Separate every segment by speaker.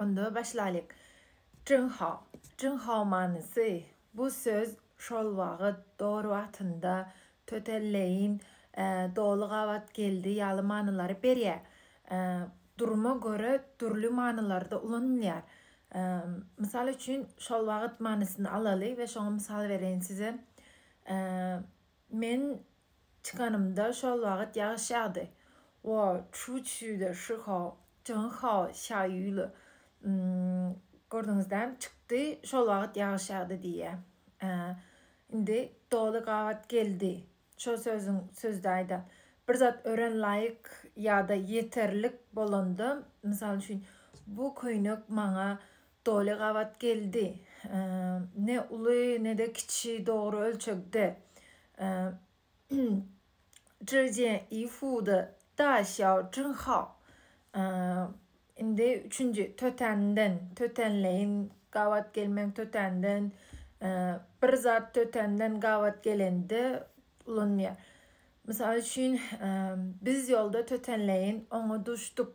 Speaker 1: Onda başlaýlyk. Junghao. Junghao manysy, bu söz şol wagyt dor wagtynda tötelleýin doly gabat geldi ýaly manylary berýär. Duruma görä dürli manylarda ulanylýar. Mysal üçin, şol wagyt manysyny alaly we şoňa mysal bereýin size. Men çykanymda şol wagt ýagyş ýagdy. Wo çu çu de shi hao, jin hao xia yu le. Gördüňizdämi, çykdy, şol wagt ýagyş ýagdy diýýär. Indi doly gabat geldi. Şol sözüň sözdäýdä bir zat örän laýyk ýa-da ýeterlik bolanda, mysal üçin, bu köýnek maňa Doly gabat geldi. Ne uly, ne-de kiçi dogry ölçegde. Zhijian Yifu-da Daxiao Zhenghao. Indi üçünji tötänden, tötänleýin gabat gelmegiň tötänden, bir zat tötänden gabat gelende ulanylýar. Mysal üçin, biz ýolda tötänleýin oňa duşduk.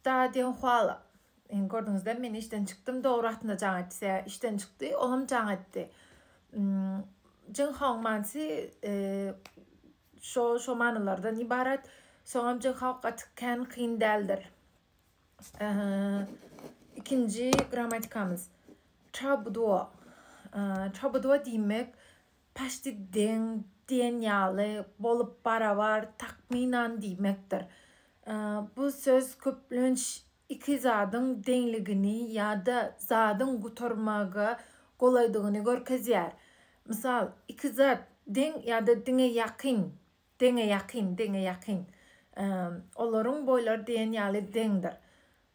Speaker 1: Stadion Huala. Gördüňizler, men işden çykdym, dogry atynda jaň etdi. Sä işden çykdy, olam jaň etdi. Jin Hong manysy şo şo manylardan ibarat. Soňam Jin Hong gaty kän kyn däldir. Ikinji grammatikamyz. Çabduo. Çabduo diýmek Paşdi deň diýen ýaly, bolup barabar, takmynan diýmekdir. Bu söz köplenç iki zadyň deňligini ýa-da zadyň gutarmaga golaýdygyny görkezýär. Mysal, iki zat deň ýa-da diňe ýakyn, deňe ýakyn, deňe ýakyn. Olaryň boýlary diýen ýaly deňdir.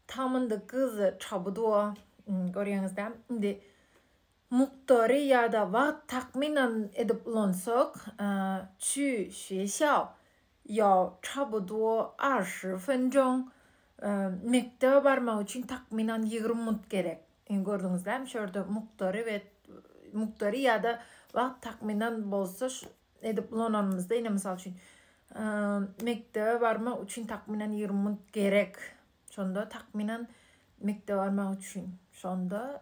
Speaker 1: Tamynda gyz çabydy-ow, görýäňiz-dä. Indi Mukdary ýa-da wagt takmynan edip ulansak, Çü xue xiao ýao cha bu duo er shi fen zhong, Mekdebe barmak üçin takmynan ýigrimi minut gerek. Indi gördüňizlämi, şu ýerde mukdary we mukdary ýa-da wagt takmynan bolsa edip ulananymyzda, ine, mysal üçin, Mekdebe barmak üçin takmynan ýigrimi minut gerek. Şonda takmynan mekdebe barmak üçin. Şonda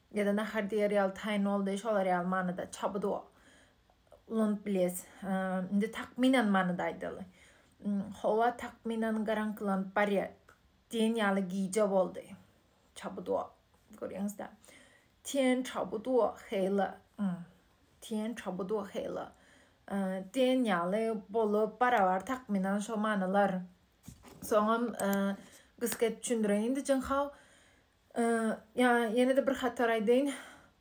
Speaker 1: Ýa-da nahar diýer ýaly taýyn boldy, şolar ýaly manyda çabuda ulanyp bilýäs. Indi takmynan manyda aýdaly. Howa takmynan garaňkylanyp barýar. Diýen ýaly gije boldy. Çabuda. Görýäňiz-dä. Tiýen çabuda heýla. Tiýen çabuda heýla. Diýen ýaly bolup, barabar takmynan şo manylar. Soňam gysga etip düşündireýin-de, jynhaw. Ýa ýene-de bir hatar aýdaýyn,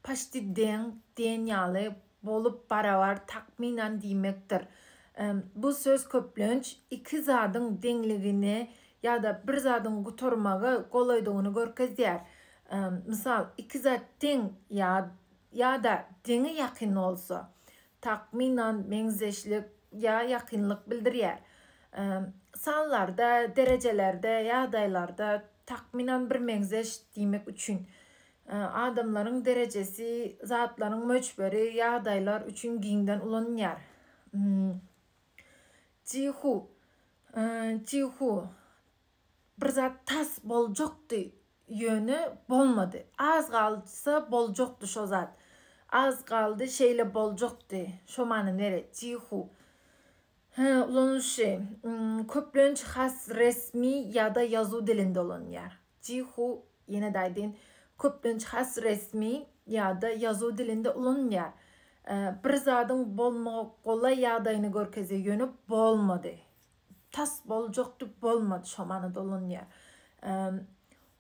Speaker 1: paşti deň diýen ýaly bolup barabar takmynan diýmekdir. Bu söz köplenç iki zadyň deňligini ýa-da bir zadyň gutarmagy golaýdygyny görkezýär. Mysal, iki zat deň ýa-da deňe ýakyn bolsa, takmynan meňzeşlik ýa ýakynlyk bildirýär. Sanlarda, derejelerde, ýagdaýlarda takmynan birmeňzeş diýmek üçin. Adamlaryň derejesi, zatlaryň möçberi, ýagdaýlar üçin giňden ulanylýar. Jihu, Jihu, Bir zat tas boljakdy, ýöne bolmady. Az galsa boljakdy şo zat. Az galdy, şeýle boljakdy. Şo many nere? Jihu. Hä, ulanylyşy. Köplenç has resmi ýa-da ýazuw dilinde ulanylýar. Jihu, ýene-de aýdyn, köplenç has resmi ýa-da ýazuw dilinde ulanylýar. Bir zadyň bolmaga golaý ýagdaýyny görkezýär, ýöne bolmady. Tas boljak dip bolmady şo mana dolanýar.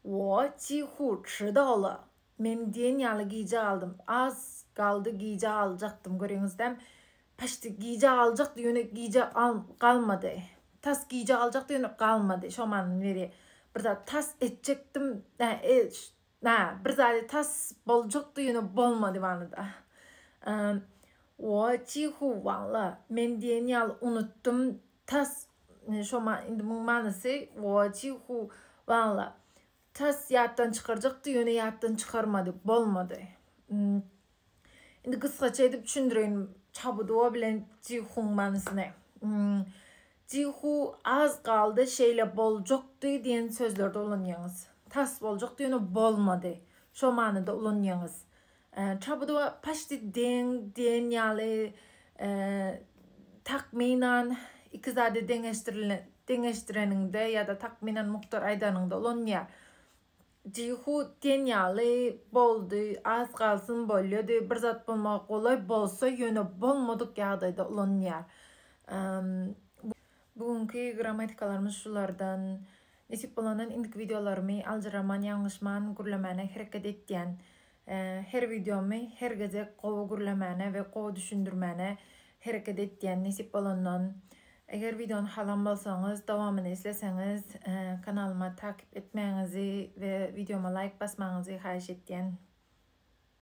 Speaker 1: Wo tihu çyda ola. Men diýen ýaly gijä galdym. Az galdy gijä galjakdym göreňizdämi. Paşdi gijä galjakdy ýöne gijä galmady. Tas gijä galjakdy ýöne galmady şo manyny berýär. Bir zat tas etjekdim. Nä, bir zady tas boljak diýeni bolmady wanyda. Woo, çihu, walla, men diýen ýaly unutdym, tas, şo ma, indi muň manysy, woo, çihu, walla, tas ýatdan çykarjak diýeni ýatdan çykarmady, bolmady. Indi gysgaça edip düşündireýin Çabuduo bilen Jihuň manysyny. Hmm. Jihu az galdy şeýle boljakdy diýen sözlerde ulanýaňyz. Tas boljak diýeni bolmady. Şo manyda ulanýaňyz. Çabuduo paşdi deň diýen ýaly takmynan iki zady deňeşdirilen deňeşdireniňde ýa-da takmynan mukdar aýdanyňda ulanýar. Jihu diýen ýaly boldy, az galsyn bolýady, bir zat bolmaga golaý bolsa ýöne bolmadyk ýagdaýda ulanylýar. Bu günki grammatikalarymyz şulardan. Nesip bolandan indiki wideolarymy aljyraman, ýalňyşman gürlemäne hereket etýän. Her wideomy her gezek gowy gürlemäne we gowy düşündirmäne hereket etýän nesip bolandan. Eger wideony halan bolsaňyz, dowamyny isleseňiz kanalyma takyp etmäňizi we wideoma laýk basmaňyzy haýyş etýän.